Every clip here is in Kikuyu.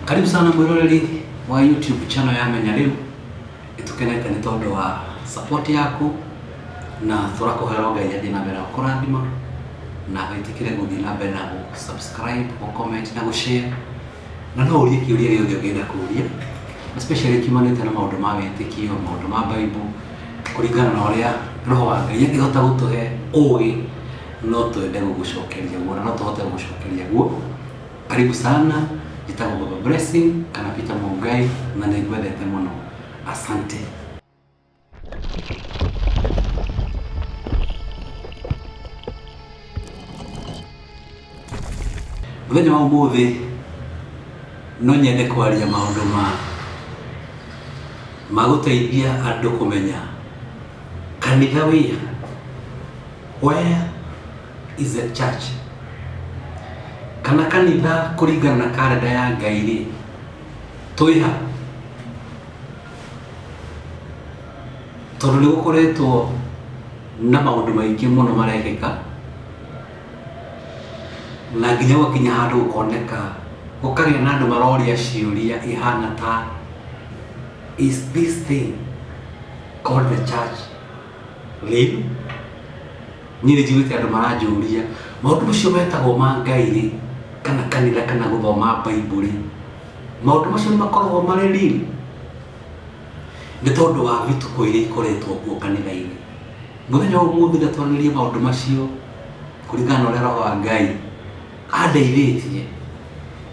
karibu sana mwiroreri wa youtube channel ya menya riu itukenete ni tondu wa support yaku na turakuhera ngai athie na mbere na kurathima na witikire guthii na mbere na gu- subscribe gu comment na gu share na no urie kiuria giothe ungienda kuria especially kiumanite na maundu ma witikio maundu ma bible kuringana na uria roho wa ngai angihota gutuhe ugi no twende gũgũcokeria guo na no tũhote gũgũcokeria guo karibu sana njĩtagwo baba blessing kana peter mungai na nĩ ngwendete mũno asante mũthenya wa ũmũthĩ no nyende kwaria maũndũ ma ma gũteithia andũ kũmenya kanitha wĩha Where is the church? Kana kanitha kũringana na karenda ya Ngai rĩ, twĩha? Tondũ nĩ gũkoretwo na maũndũ maingĩ mũno marekĩka na nginya gũkinya handũ gũkoneka gũkagĩa na andũ maroria ciũria ihana ta is this thing called the church rĩu niĩ nĩ njiguĩte andũ maranjũria maũndũ macio metagwo ma ngai rĩ kana kanitha kana gũthoma baibuli maũndũ macio nĩ makoragwo marĩ riri nĩ tondũ wa vituko iria ikoretwo kuo kanitha-inĩ mũthenya wa ũmũthĩ na twarĩrĩrie maũndũ macio kũringana na ũrĩa roho wa ngai andeithĩtie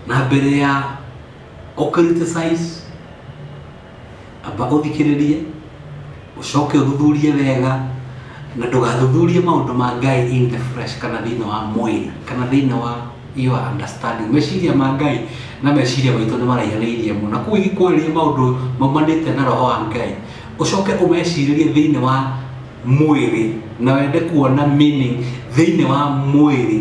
na mbere ya gũkriticize Amba ũthikĩrĩrie, ũcoke ũthuthurie wega, na ndũgathuthurie maũndũ ma Ngai in the flesh kana thĩinĩ wa mwĩrĩ, kana thĩinĩ wa your understanding. Meciria ma Ngai na meciria maitũ nĩ maraihanĩirie mũno. Na kũu ingĩkwarĩria maũndũ maumanĩte na roho wa Ngai, ũcoke ũmecirĩrie thĩinĩ wa mwĩrĩ na wende kuona meaning thĩinĩ wa mwĩrĩ,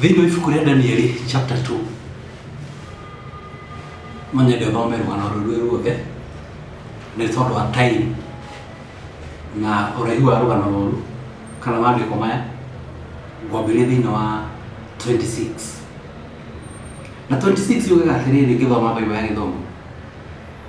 thĩinĩ wa ibuku rĩa danieli chapter 2 no nyende thome rũgano rũrũ ruothe nĩ tondũ wa time na ũraihu wa rũgano rũrũ kana maandĩko maya ngwambĩrĩria thĩinĩ wa 26 na 26 yugaga atĩrĩrĩ ngĩthoma baibo ya gĩthomo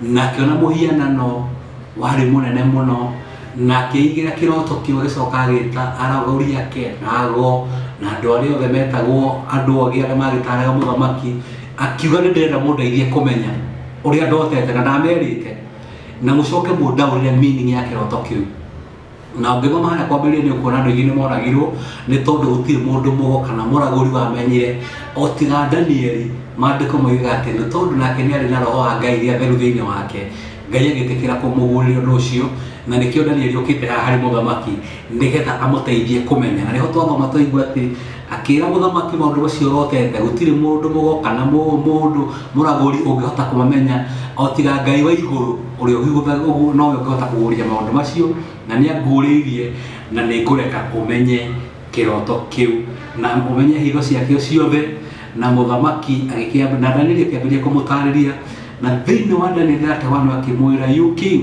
na akĩona mũhianano warĩ mũnene mũno na akĩigĩra kĩroto kĩu agĩcoka agĩta aragũri ake na ago na andũ arĩa othe metagwo andũ ogĩ arĩa magĩtaraga mũthamaki akiuga nĩ ndĩrenda mũndeithie kũmenya ũrĩa ndotete na ndamerĩte na mũcoke mũndaũrĩre meaning ya kĩroto kĩu na ũngĩthoma harĩa kwambĩrĩria nĩ ũkuona andũ aingĩ nĩ moragirwo nĩ tondũ gũtirĩ mũndũ mũgo kana mũragũri wamenyire o tiga danieli maandĩko moigaga atĩ nĩ tondũ nake nĩ arĩ na roho wa ngai iria theru thĩinĩ wake ngai agĩtĩkĩra kũmũguũrĩria ũndũ ũcio na nĩkĩo danieli okĩte haha harĩ mũthamaki nĩgetha amũteithie kũmenya na nĩho twathoma twaigua atĩ Akĩĩra mũthamaki maũndũ macio ũrotete, gũtirĩ mũndũ mũgo kana mũndũ mũragũri ũngĩhota kũmamenya, o tiga Ngai wa igũrũ, ũrĩa ũhĩgũthaga ũguo, nowe ũngĩhota kũguũria maũndũ macio, na nĩanguũrĩirie, na nĩngũreka ũmenye kĩroto kĩu, na ũmenye hitho ciakĩo ciothe. Na mũthamaki agĩkĩamba, na Danieli akĩambĩrĩria kũmũtaarĩria, na thĩinĩ wa Danieli ndatewanwo akĩmwĩra, You king,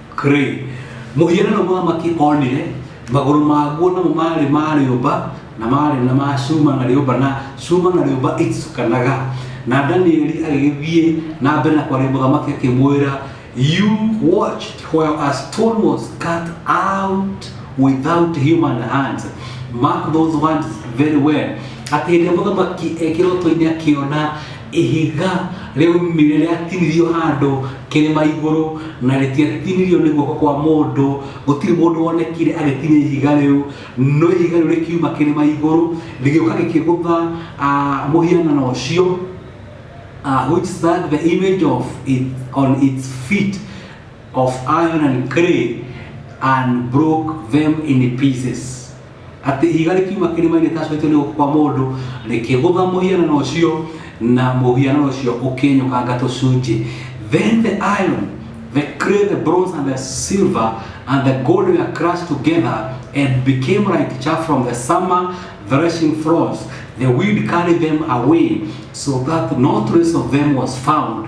Kri. Mũhianano mũthamaki onire, magũrũ maguo namo maarĩ ma rĩũmba, na maarĩ na ma cuma na rĩũmba, na cuma na rĩũmba iticukanaga. Na Danieli agĩgĩthiĩ na mbere na kwaria mũthamaki akĩmwĩra, You watched while a stone was cut out without human hands. Mark those words very well. Atĩ hĩndĩ ĩrĩa mũthamaki ekĩrotwo-inĩ akĩona Ihiga rĩaumire rĩatinirio handũ kĩrĩma igũrũ na rĩtiatinirio nĩ guoko kwa mũndũ. Gũtirĩ mũndũ wonekire agĩtinia ihiga rĩu, no ihiga rĩu rĩkiuma kĩrĩma igũrũ rĩgĩũka rĩkĩgũtha ah, mũhianano ũcio ah, which stuck the image of it on its feet of iron and clay and broke them in pieces. atĩ ihiga rĩkiuma kĩrĩma-inĩ rĩtacũhĩtio nĩ guoko kwa mũndũ rĩkĩgũtha mũhianano ũcio na mũhianano ũcio ũkĩnyũkanga tũcunjĩ then the iron the clay the bronze and the silver and the gold were crushed together and became like chaff from the summer threshing floors the wind carried them away so that no trace of them was found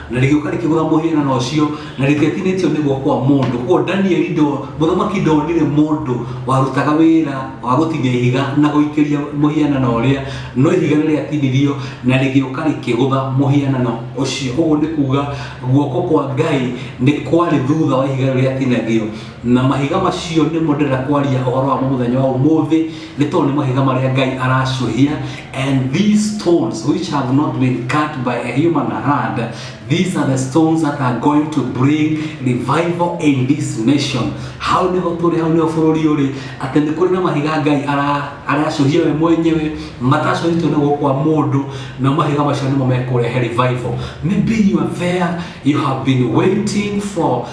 na rĩgĩũka rĩkĩgũtha mũhianano ũcio na rĩtiatinĩtio nĩ guoko kwa mũndũ koguo danieli ndo mũthamaki ndonire mũndũ warutaga wĩra wa gũtinia ihiga na gũikĩria mũhianano ũrĩa no ihiga nĩ rĩatinirio na rĩgĩũka rĩkĩgũtha mũhianano ũcio ũguo nĩ kuga guoko kwa ngai nĩ kwarĩ thutha wa ihiga rĩu rĩatinagio na mahiga macio nĩmo ndĩrenda kwaria ũhoro wamo mũthenya wa ũmũthĩ Nĩ tondũ nĩ mahiga marĩa Ngai aracũhia and these stones which have not been cut by a human hand these are the stones that are going to bring revival in this nation hau nĩho tũrĩ hau nĩho bũrũri ũrĩ atĩ nĩ kũrĩ na mahiga Ngai ara- aracũhia we mwenyewe matacũhĩtwo nĩ guoko kwa mũndũ na mahiga macio nĩmo mekũrehe revival maybe you are there you have been waiting for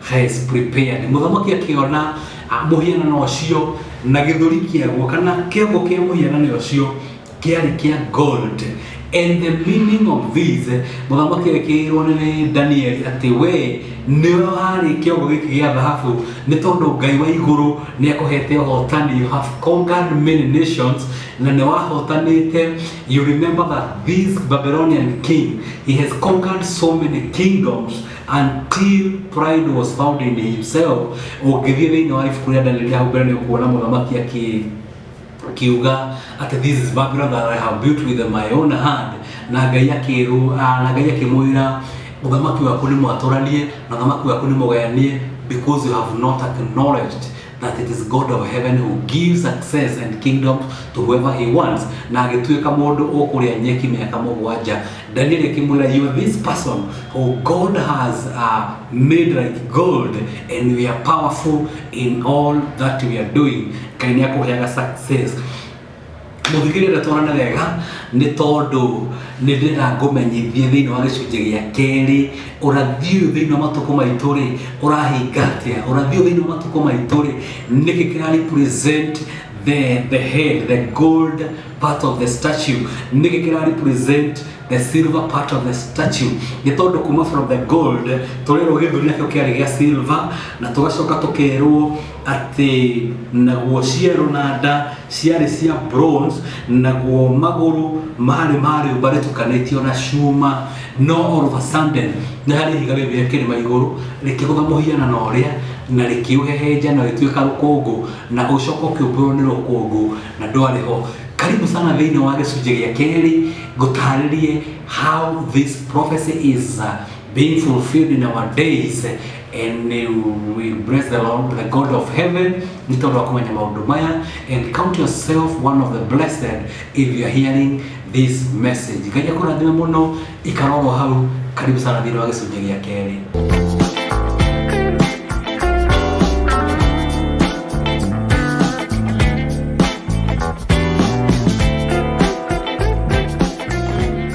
Hais prepared. Mũthamaki akĩona ah, mũhianano ũcio na gĩthũri kĩaguo kana kĩongo kĩa mũhianano ũcio kĩarĩ kĩa gold and the meaning of this mũthamaki agĩkĩrwo nĩ danieli atĩ we nĩwe warĩ kĩongo gĩkĩ gĩa thahabu nĩ tondũ ngai wa igũrũ nĩ akũhete ũhotani you have conquered many nations na nĩ wahotanĩte you remember that this babylonian king he has conquered so many kingdoms until pride was found in himself ũngĩthiĩ thĩinĩ wa ibuku rĩa danieli hau mbere nĩ ũkuona mũthamaki akĩ kiuga atĩ this is babylon that i have built with my own hand na ngai akĩrwo ah, na ngai akĩmwĩra ũthamaki waku nĩ mwatũranie na ũthamaki waku nĩ mũgayanie because you have not acknowledged that it is God of heaven who gives success and kingdom to whoever he wants na agĩtuĩka mũndũ ũkũrĩa nyeki mĩaka mũgwanja Daniel akĩmwĩra you are this person who God has uh, made like gold and we are powerful in all that we are doing Ngai nĩ akũheaga success mũthikĩrĩria twarane wega nĩ tondũ nĩ ndĩrenda ngũmenyithie thĩinĩ wa gĩcunjĩ gĩa kerĩ ũrathi ũyũ thĩinĩ wa matukũ maitũ rĩ ũrahinga atĩa ũrathi ũyũ thĩinĩ wa matukũ maitũ rĩ nĩkĩ kĩra represent the, the head the gold part of the statue nĩkĩ kĩra represent the silver part of the statue nĩ tondũ kuma from the gold tũrerwo gĩthũri nakĩo kĩarĩ gĩa silver na tũgacoka tũkerwo atĩ naguo ciero na nda ciarĩ cia bronze naguo magũrũ marĩ marĩũmba rĩtukanĩtio na cuma no all of a sudden nĩ harĩ ihiga rĩu rĩa kĩrĩma igũrũ rĩkĩgũtha mũhiana na ũrĩa na rĩkĩũhehenja na rĩtuĩka rũkũngũ na ũcoka ũkĩũmbũrwo nĩ rũkũngũ na ndwarĩ ho karibu sana thĩinĩ wa gĩcunjĩ gĩa kerĩ ngũtarĩrie how this prophecy is uh, being fulfilled in our days and uh, we bless the Lord, the God of heaven nĩ tondũ wa kũmenya maũndũ maya and count yourself one of the blessed if you are hearing this message ngai akũrathime mũno ikarorwo hau karibu sana thĩinĩ wa gĩcunjĩ gĩa kerĩ